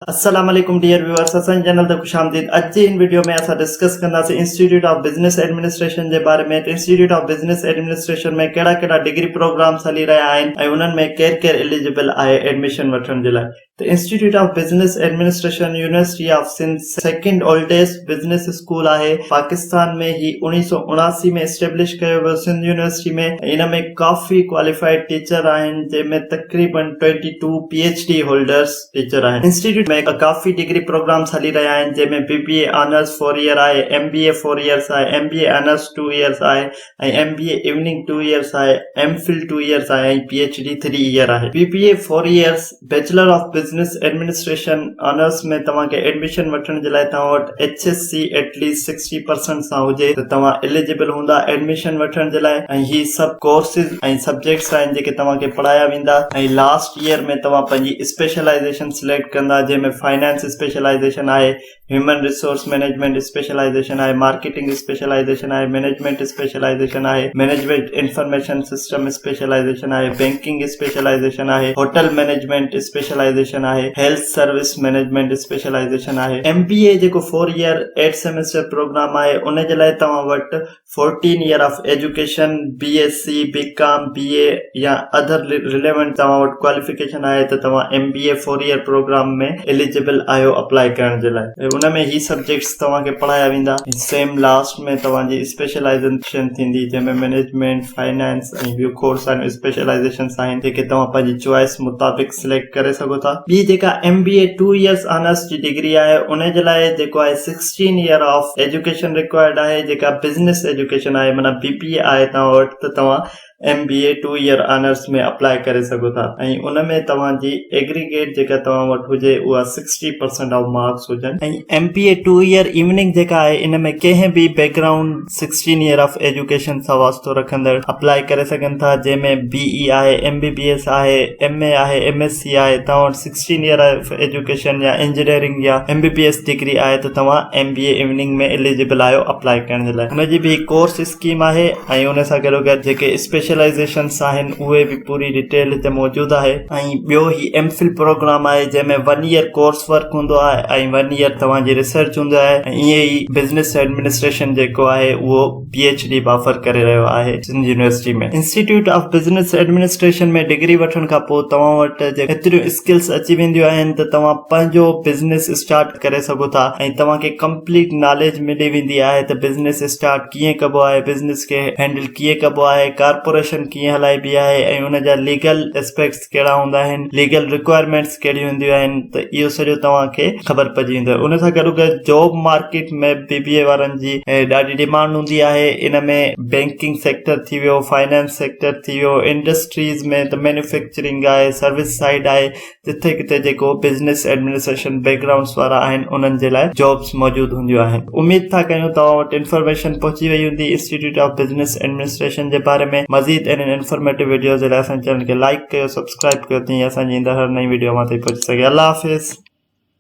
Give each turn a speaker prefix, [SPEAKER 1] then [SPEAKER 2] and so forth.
[SPEAKER 1] السلام عليڪم dear viewers اسان جي چينل تي خوش آمديد اڄ جي هن وڊيو ۾ اسان ڊسڪس ڪنداسين انسٽيٽيوٽ آف بزنس ايڊمنسٽريشن جي باري ۾ ته انسٽيٽيوٽ آف بزنس ايڊمنسٽريشن ۾ ڪهڙا ڪهڙا ڊگري پروگرامس هلي رهيا آهن ۽ انهن ۾ ڪير ڪير اليجبل آهي ايڊميشن وٺڻ جي لاء ته institute of business administration university of Sindh second oldest business school آهي پاڪستان ۾ هي اوڻيهه سؤ اڻاسي ۾ اسٽيبلش ڪيو ويو سنڌ يونيورسٽي ۾ ان ۾ ڪافي ڪواليفائيڊ ٽيچر آهن جنهن ۾ تقريبن twenty two P H D holders teacher آهن. انسٽيٽيوٽ ۾ ڪافي ڊگري پروگرامز هلي رهيا آهن، جنهن ۾ B B A honours four year آهي، M B A four years آهي، M B A honours two years آهي ۽ M B A evening two years آهي، ايم فل ٽو ايئرز آهي ۽ P H D three year آهي. B B A four years, bachelor of business administration, honours ۾ توهان کي admission وٺڻ جي لاء توهان وٽ H S C at least C percent سان هجي ته توهان ايليجبل هوندا ايڊميشن وٺڻ جي لاء ۽ هي سڀ ڪورسز ۽ سبجيڪٽس آهن جيڪي توهان کي پڙهايا ويندا ۽ لاسٽ ييئر ۾ توهان پنهنجي اسپيشلائيزيشن سليڪٽ ڪندا جنهن ۾ فنانس اسپيشلائيزيشن آهي هيومن ريسورس مئنيجمينٽ اسپيشلائيزيشن آهي مارڪيٽنگ اسپيشلائيزيشن آهي مئنيجمينٽ اسپيشلائيزيشن آهي مئنيجمينٽ انفارميشن سسٽم اسپيشلائيزيشن آهي بئنڪنگ اسپيشلائيزيشن آهي هوٽل مئنيجمينٽ اسپيشلائيزيشن آهي هيلٿ سروس مينيجمينٽ اسپيشلائيزيشن آهي. ايم بي اي جيڪو four year eight semester program آهي ان جي لاء توهان وٽ fourteen year of education, B S C, B com, B A يا اڌر رليونٽ توهان وٽ ڪواليفڪيشن آهي ته توهان M B A four year program ۾ eligible آهيو اپلائي ڪرڻ جي لاء. ان ۾ هي سبجيڪٽس توهان کي پڙهايا ويندا. سيم لاسٽ ۾ توهان جي اسپيشلائيزيشن ٿيندي جنهن ۾ مينيجمينٽ، فنانس ۽ ٻيو کوڙ ساريون اسپيشلائيزيشنس آهن جيڪي توهان پنهنجي چوائس مطابق سليڪٽ ڪري سگهو ٿا ٻي جيڪا M B A two years honours جي ڊگري آهي ان جي لاء جيڪو آهي sixteen year of education required آهي جيڪا بزنس ايجوڪيشن آهي معنيٰ بي بي اي آهي توهان وٽ ته توهان M B A two year honours ۾ apply ڪري سگهو ٿا ۽ ان ۾ توهان جي ايگريگيٽ جيڪا توهان وٽ هجي اها سڪسٽي پرسنٽ آف مارڪس هجن ۽ M B A two year evening جيڪا آهي ان ۾ ڪنهن به background sixteen year of education سان واسطو رکندڙ اپلاء ڪري سگهن ٿا جنهن ۾ بي اي آهي ايم بي بي ايس آهي ايم اي آهي ايم ايس سي آهي توهان وٽ سڪسٽين ييئر آف ايجوڪيشن يا انجنيئرنگ يا M B B S degree آهي ته توهان M B A evening ۾ eligible آهيو اپلاء ڪرڻ جي لاء ان جي به هڪ ڪورس اسڪيم آهي ۽ ان سان گڏوگڏ جيڪي اسپيشلائيزيشنس آهن اهي به پوري ڊيٽيل هتي موجود آهي ۽ ٻيو هي ايم فل پروگرام آهي جنهن ۾ ون ييئر ڪورس ورڪ هوندو آهي ۽ ون ييئر توهان جي ريسرچ هوندي آهي ۽ ائين ئي بزنس ايڊمنسٽريشن جيڪو آهي اهو پي ايڇ ڊي به آفر ڪري رهيو آهي Sindh university ۾ institute of business administration ۾ degree وٺڻ کان پوء توهان وٽ جي ايتريون اسڪلس اچي وينديون آهن ته توهان پنهنجو بزنس اسٽارٽ ڪري سگهو ٿا ۽ توهان کي ڪمپليٽ ناليج ملي ويندي آهي ته بزنس اسٽارٽ ڪيئن ڪبو آهي بزنس کي هينڊل ڪيئن ڪبو آهي ڪارپوريشن ڪيئن هلائبي آهي ۽ ان جا ليگل اسپيڪٽس ڪهڙا هوندا آهن ليگل رڪوائرمينٽس ڪهڙيون هونديون آهن ته اهو سڄو توهان کي خبر پئجي ويندو ان سان گڏو گڏ job market ۾ B B A وارن جي ڏاڍي ڊيمانڊ هوندي آهي ان ۾ بينڪنگ سيڪٽر ٿي ويو فائنانس سيڪٽر ٿي ويو انڊسٽريز ۾ ته مينوفيڪچرنگ آهي سروس سائيڊ آهي جتي ڪٿي جيڪو بزنس ايڊمنسٽريشن بيڪ گرائونڊس وارا آهن انهن جي لاء جابس موجود هونديون آهن اميد ٿا ڪيون توهان وٽ انفارميشن پهچي وئي هوندي انسٽيٽيوٽ آف بزنس ايڊمنسٽريشن جي باري ۾ مزيد اهڙين انفارميٽو وڊيوز جي لاء اسان جي چينل کي لائڪ ڪيو سبسڪرائب ڪيو تيئن اسان جي ايندڙ هر نئين وڊيو اوهان تائين پهچي سگهي الله حافظ